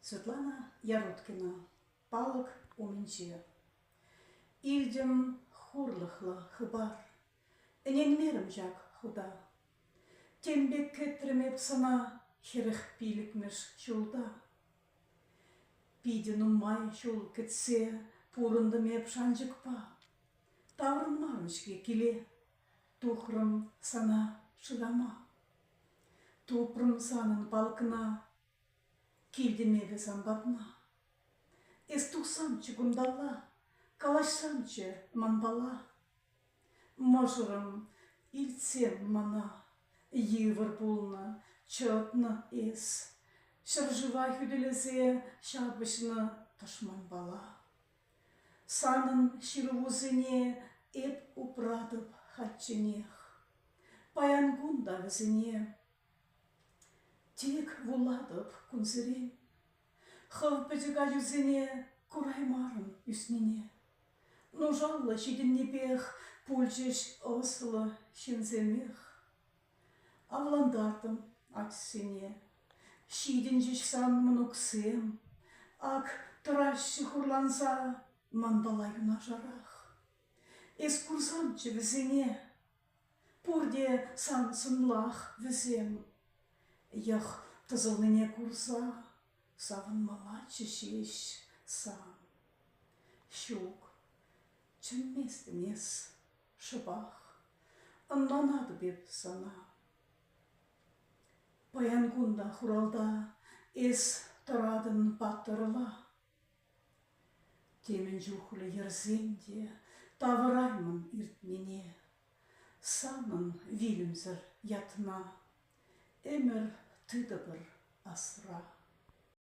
Светлана Яроткина палӑк умӗнче. Илтӗм хурлӑхлӑ хыпар. Ӗненмерӗм ҫак хута. Тем пек кӗтрӗм эп сана хӗрӗх пилӗкмӗш ҫулта. Питӗ нумай ҫул кӗтсе пурӑнтӑм эп шанчӑкпа. Таврӑнмарӑм-ҫке киле. Тухрӑм сана шырама, Тупрӑм санӑн палӑкна, Килтӗм эпӗ сан патна. Эс тухсамччӗ кунталла, Калаҫсамччӗ манпала. Мӑшӑрӑм, илтсем мана, Йывӑр пулнӑ, чӑтнӑ эс, Ҫӗршыва хӳтӗлесе Ҫапӑҫнӑ тӑшманпала. Санӑн ҫырӑвусене эп упратӑп хальчченех. Паян кун та вӗсене тек вулатӑп кунсерен. Хӑв пӗчӗк ачусене кураймарӑм ӳснине. Нушаллӑ ҫитӗннипех пулчӗҫ ӑслӑ ҫынсемех. Авлантартӑм ачасене. Ҫитӗнчӗҫ сан мӑнуксем. Ак тӑраҫҫӗ хурланса манпала юнашарах. Эс курсанччӗ вӗсене. Пурте сан сӑнлах вӗсем. Йӑх тӑсӑлнине курса савӑнмаллаччӗ ҫеҫ сан. Ҫук, чӗнместӗм эс. Шӑпах ӑнланатӑп эп сана. Паян кун та хуралта эс тӑратӑн паттӑрла. Темӗн чухлӗ йӗрсен те тавӑраймӑн иртнине. Санӑн вилӗмсӗр ятна ӗмӗр тытӑпӑр асра.